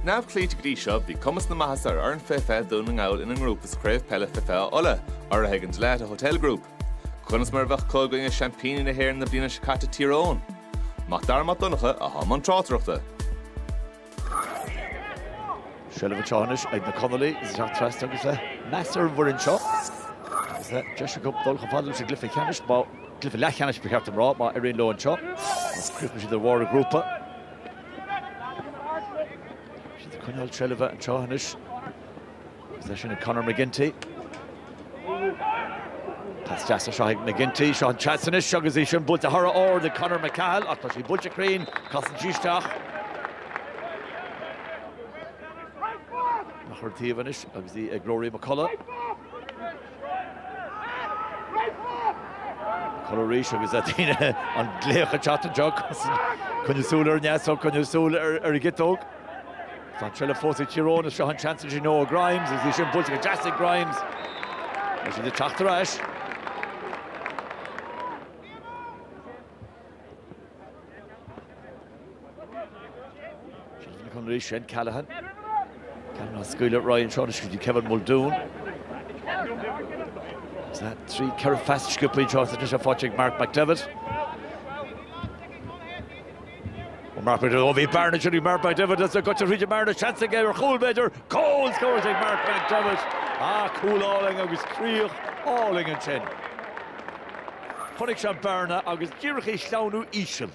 neamhchlaoite go dtí seo, bhí cuma na maitheasa ar fhoireann faoi fiche Dhún na nGall ina ngrúpa i gcraobh peile faoi fiche Uladh, urraithe ag an Dalata Hotel Group. Conas mar a bheadh acu i gcoinne seaimpíní na hÉireann na bliana seo caite Tír Eoghain? Mac Dara Mac Donncha i mbun tráchtaireachta. Seilbh anseo anois ag na Conallaigh agus isteach trasna agus le meas ar an bhfoireann seo agus le deis acu dul chomh fada leis an gcluiche ceannais, má, cluiche leathcheannais ba cheart dom a rá, má éiríonn leo anseo. Má chríochnaíonn siad ar bharr an ghrúpa. Is coinneáil seilbhe an tráth anois agus é sin ag Conor McGinty. Tá spás anseo ag McGinty, seo an chance anois agus í sin buailte thar a bheith ard ag Conor McCahill ach tá sí buailte cruinn, casann sí isteach. Á chur taobh anois agus í ag Ruairí McCullagh. McCullagh arís agus a daoine an glaoch ag teacht anseo coinnigh súil ar an deasóg, coinnigh súil ar an gciotóg. Tá an tseilbh fós ag Tír Eoghain is seo an seans sin ó Grimes agus í sin buailte go deas ag Grimes. Tá siad ag teacht ar ais. Seán Ó Conairí, Shane Callaghan. Ceann á scaoileadh ar aghaidh anseo i dtreo Kevin Muldoon. Is é trí ceithre phas sciobtha anseo anois ar Phádraig Mark McDevitt. Ó Mark McDevitt, ó bhí bearna ansin Mark McDevitt as a gcoiteann thríd an mbearna, seans aige ar chúl b'fhéidir, goal scores ag Mark McDevitt. Ah, cúl álainn agus críoch álainn ansin. Chonaic sé an bearna agus díreach é a shleamhnú íseal.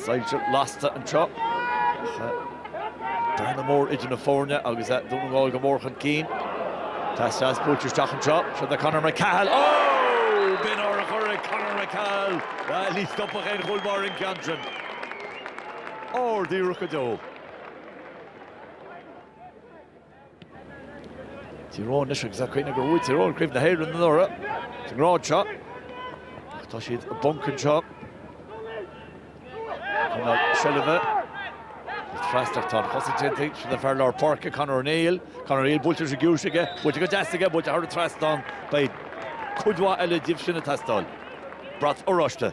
Soilse lasta anseo. Bearna mór idir na foirne agus Dún na nGall go mór chun cinn. Tá an pas buailte isteach anseo. Seo do Conor McCahill. Ó! B'in urchar ag Conor McCahill. Ní stopfadh aon chúl báire an ceann sin. Ór díreach go deo. Tír Eoghain leis agus ag cuimhneamh gur bhuaigh Tír Eoghain craobh na hÉireann anuraidh sa ngrád seo. Tá siad i bponc anseo. Coinneáil seilbhe. Is freastacht tá an chosaint déanta sin an fear lár páirce, Conor O'Neill. Conor O'Neill buailte leis an gciumhais aige, buailte go deas aige, buailte thar an trasnán. Beidh cuid mhaith eile díobh sin ag teastáil. Brat oráiste.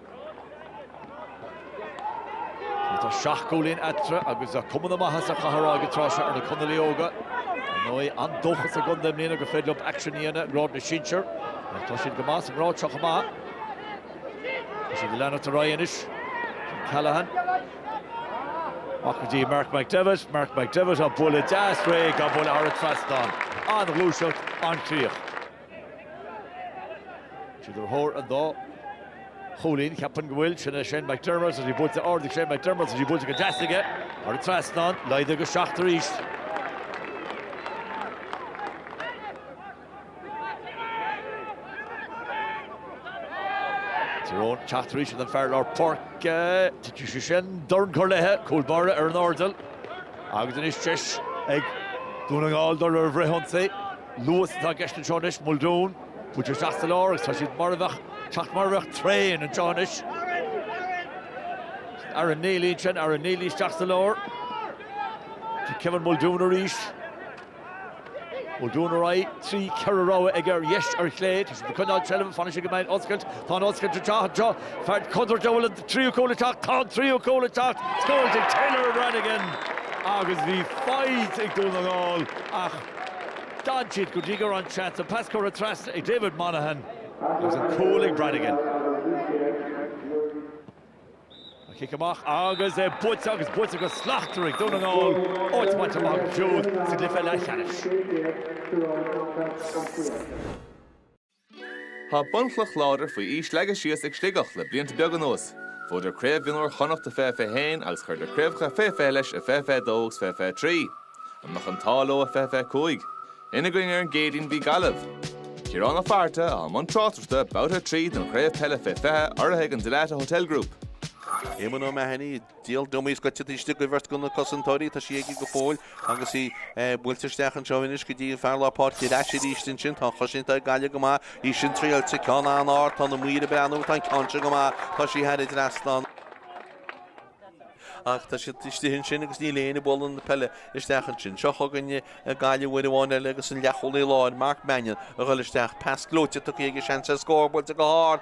Tá seacht gcúilín eatarthu agus cuma na maitheasa caithfear a rá ag an tráth seo ar na Conallaigh óga. Ar ndóigh, an-dóchas sa gcontae i mbliana gur féidir leo aicsean a dhéanamh i ngrád na sinsear. Tá siad go maith sa ngrád seo chomh maith. Tá siad ag leanacht ar aghaidh anois. Callaghan. Amach go dtí Mark McDevitt, Mark McDevitt á bualadh deas réidh á bualadh thar an trasnán. An-ghluaiseacht, an-chríoch. iad ar thóir an 2 chúilín, Ceapaim go bhfuil, sin é Shane McDermott, is í buailte ard ag Shane McDermott, is í buailte go deas aige, thar an trasnán, laghdú go 7 arís. Tyrone, teacht arís chun an fear lár páirce, titfidh sé sin, dorn curtha léithe, cúl báire ar an airdeall, agus anois deis ag Dún na nGall dul ar an bhfrithionsaí. Lewis atá i gceist anseo anois, Muldoon, buailte isteach sa lár agus tá siad mar a bheadh, teacht mar a bheadh traein anseo anois. Aaron Neely ansin, Aaron Neely isteach sa lár. Kevin Muldoon arís. Muldoon ar aghaidh, trí ceithre rogha ag ar dheis ar chlé, tá siad ag coinneáil seilbh, fanacht go mbeidh oscailt, tá an oscailt ag teacht anseo, fear contúirt an bhfuil an tríú cúl ag teacht, tá an tríú cúl ag teacht, cúl ag Taylor Brannigan agus bhí faighte ag Dún na nGall ach D'fhan siad go dtí go raibh an seans, an pas curtha trasna ag David Monaghan agus an cúl ag Brannigan. An cic amach agus é buaite agus buaite go slachtmhar ag Dún na nGall, áit bainte amach acu siúd sa gcluiche leathcheannais. Tá bunchloch láidir faoi aois leagtha síos ag Sligeach le blianta beaga anuas. Bhuadar Craobh Mhionúir Chonnacht i 2021 agus chuireadar craobhacha fé 20 leis i 2022 agus 2023. An mbeadh an t-ádh leo i 2025? Ina gcoinne ar an gCéadaoin bhí Gaillimh, Ciarán Ó Fátharta i mbun tráchtaireachta Babhta 3 den chraobh peile fé 20 urraithe ag an Dalata Hotel Group. Éamonn O'Mahony i. Díol dom í scoite taoisigh ag uimheart go na cosantóirí, tá sí aige go fóill agus í buailte isteach anseo anois go dtí an fear lár páirce ar ais arís ansin, tá an chosaint ag Gaillimh go maith, í sin triailte, ceann an-ard, tá na maoir ag breathnú agus tá an ceann seo go maith, tá sí thar an trasnán, ach tá siad istigh ansin agus níl éinne ag bualadh na peile isteach ansin, seo chugainn Gaillimh uair amháin eile agus an leathchúlaí láir, Mark Mannion, a ghoil isteach, pas gleoite tugtha aige, seans air scór buailte go hard,